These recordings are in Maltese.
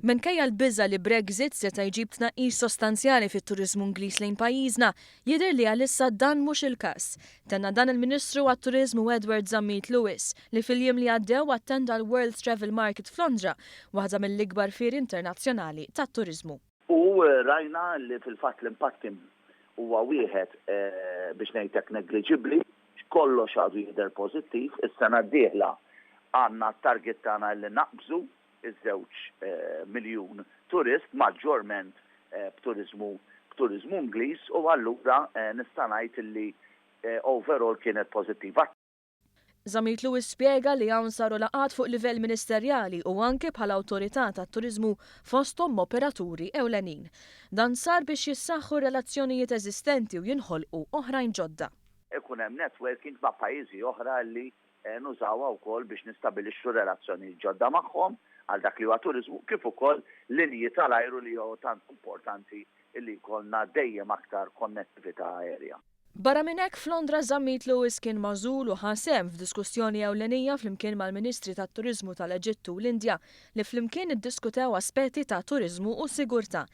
Minkejja l-biża' li Brexit seta' jġib tnaqqis sostanzjali fit-turiżmu Ingliż lejn pajjiżna, jidher li għalissa dan mhux il-każ. Tenna dan il-Ministru għat-Turiżmu Edward Zammit Lewis, li fil-jiem li għaddew attenda l-World Travel Market f'Londra, waħda mill-ikbar fieri internazzjonali tat-turiżmu. U rajna li fil-fatt l-impatt kien huwa wieħed biex ngħid hekk negliġibbli, kollox għadu jidher pożittiv, is-sena d-dieħla għandna t-target tagħna li naqbżu ż-żewġ miljun turist, maġġorment b'turiżmu b'turiżmu Ingliż u allura nista' ngħid li overall kienet pożittiva. Zammit Lewis spjega li hawn saru laqgħat fuq livell ministerjali u anki bħala awtorità tat-turiżmu fosthom m'operaturi ewlenin. Dan sar biex jissaħħu r-relazzjonijiet eżistenti u jinħolqu oħrajn ġodda. Ikun hemm networking ma' pajjiżi oħra li nużawha wkoll biex nistabilixxu relazzjonijiet ġodda magħhom għal dak li huwa turiżmu kif ukoll linji tal-ajru li hu tant importanti li jkollna dejjem aktar konnettività aerja. Barra minn hekk, f'Londra żammit Lewis kien magħżul u ħa sehem f'diskussjoni ewlenija flimkien mal-Ministri tat-Turiżmu tal-Eġittu u l-Indja li flimkien iddiskutew aspetti ta' turiżmu u sigurtà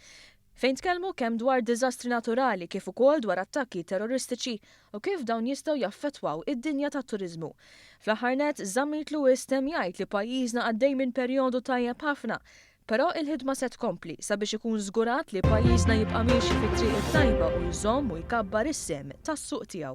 fejn tkellmu kemm dwar diżastri naturali kif ukoll dwar attakki terroristiċi u kif dawn jistgħu jaffettwaw id-dinja tat-turiżmu. Fl-aħħar nett, żammit Lewis temm jgħid li pajjiżna għaddej minn perjodu tajjeb ħafna Però il-ħidma se tkompli sabiex ikun żgurat li pajjiżna jibqa' miexi fit-triq it-tajba u jżomm u jkabbar is-sehem tas-suq tiegħu.